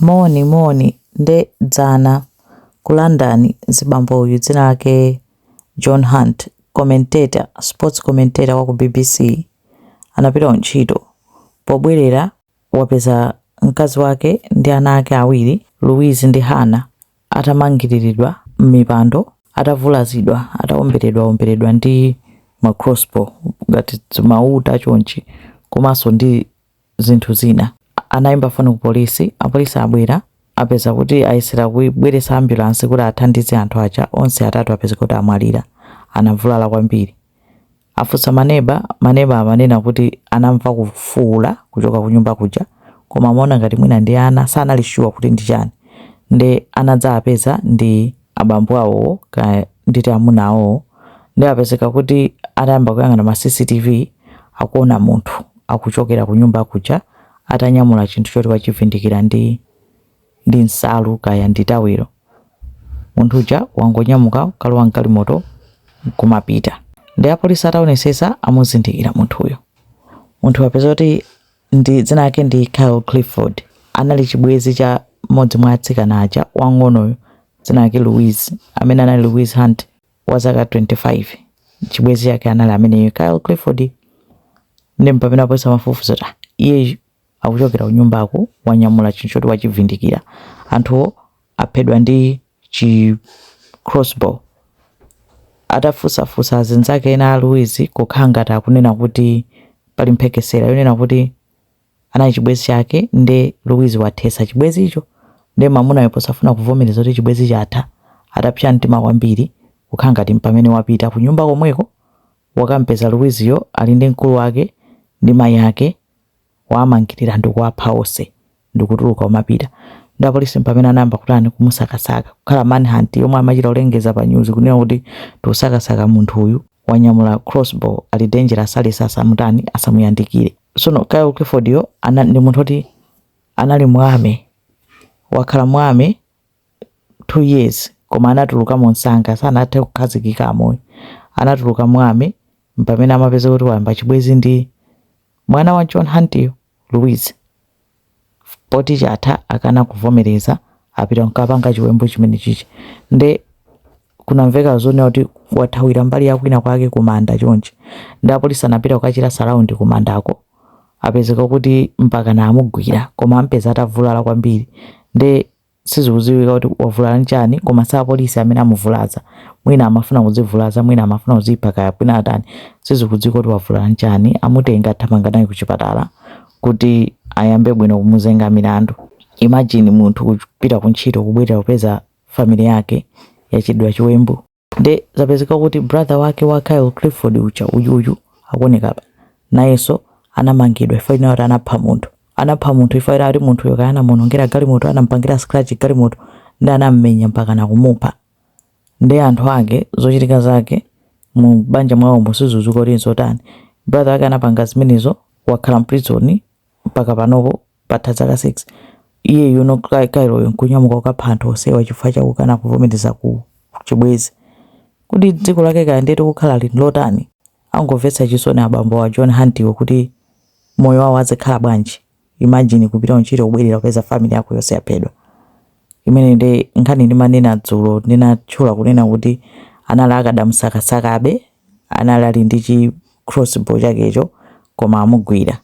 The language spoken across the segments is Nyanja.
Moni moni nde dzana ku London zibambo uyu dzina lake John Hunt commentator sports commentator waku bbc anapita kuntchito pobwelera wapeza mkazi wake ndi ana ake awiri Louise ndi Hannah atamangiriridwa mmipando atavulazidwa atawomberedwawomberedwa ndi ma crossbow ngati dzimauta chonchi komanso ndi zinthu zina. Anaimba foni ku polisi, apolisi abwera, apeza kuti ayesera kubweretsa ambulansi kuti athandize anthu aja, onse atatu apeza kuti amwalira. Anavulala kwambiri. Afunsa maneba, maneba amanena kuti anamva kufuula kuchoka kunyumba kuja, koma amaona ngati mwina ndi ana, sanali sure kuti ndi chani. Nde anadzapeza ndi. abambo awowo kaya nditi amuna awowo nde apezeka kuti atayamba kuyang'ana ma cctv akuona munthu akuchokera kunyumba kuja atanyamula chinthu choti wachivindikira ndi ndi nsalu kaya ndi tawilo munthu uja wangonyamuka kalowa mgalimoto kumapita nde apolisi ataonetsetsa amuzindikira munthuyo munthu apeza kuti ndi dzina lake ndi Kyle Clifford anali chibwenzi cha mmodzi mwa atsikana aja wang'onoyo dzina lake Louise amene anali Louise Hunt wa zaka 25 chibwenzi chake anali ameneyo Kyle Clifford nde mpamene apolisi amafufuza zoti iye akuchokera kunyumbako wanyamula chinthu choti wachivindikira anthuwo aphedwa ndi chi crossbow. Atafunsafunsa azinzake ena a Louise kukhala ngati akunena kuti pali mphekesera yonena kuti anali chibwenzi chake nde Louise wathetsa chibwenzicho nde mamunayo posafuna kuvomereza kuti chibwenzi chatha atapsa mtima kwambiri kukhala ngati mpamene wapita ku nyumba komweko wakampeza Louiseyo ali ndi mkulu wake ndi mayi ake wamangirira ndikuwapha onse ndikutuluka kumapita nde apolisi mpamene anayamba kutani kumusakasaka kukhala manhunt yomwe amachita kulengeza pa news kunena kuti tikusakasaka munthu uyu wanyamula crossbow ali dangerous aliyense asamutani asamuyandikire sono Kyle Clifford yo ana, ndi munthu oti anali mu army wakhala mu army two years koma anatuluka mwamsanga sanathe kukhazikika armymo anatuluka mu army mpamene amapeza kuti wayamba chibwenzi ndi mwana wa John Huntiyo Louise poti chatha akana kuvomereza apita nkapanga chiwembu chimenechichi nde kunamveka zonena kuti wathawira mbali yakwina kwake kumanda chonchi nde apolisi anapita kukachita surround kumandako apezeka kuti mpaka anamugwira koma ampeza atavulala kwambiri nde Sizikudziwika kuti wavulala nchani koma si apolisi amene amuvulaza. Mwina amafuna kudzivulaza, mwina amafuna kudzipha kaya kwina atani. Sizikudziwika kuti wavulala nchani, amutenga athamanga naye kuchipatala kuti ayambe bwino kumuzenga milandu. Imagine munthu kupita ku ntchito kubwerera kupeza family yake yachitidwa chiwembu. nde zapezeka kuti brother wake wa Kyle Clifford uja uyuyu akuoneka apa nayenso anamangidwa chifukwa chonena kuti anapha munthu anapha munthu chifukwa chonena kuti munthu uyo kaya anamuonongera galimoto anampangira scratch galimoto nde anammenya mpaka nakumupha ndi anthu ake zochitika zake mu banja mwawo sizikudziwika kuti nzotani brother wake anapanga zimenezo wakhala mprison mpaka panopo Patha zaka 6, iye uyuno Kyle'yo n'kunyamuka kukapha anthu onsewa chifukwa cha kukana kuvomereza ku chibwenzi. Kodi dziko lake kaya ndiye tikukhalali n'lotani? Angomvetsa chisoni abambowa a John Hunt'wo kuti moyo wawo azikhala bwanji? Imagine kupita kuntchito kubwerera kupeza family yako yonse yaphedwa. Imeneyo ndiye nkhani ndimanena dzulo ndinatchula kunena kuti anali akadamusakasakabe, anali ali ndi chi crossbow chakecho koma amugwira.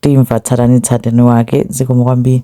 timva tsatanetsatane wake zikomo kwambiri.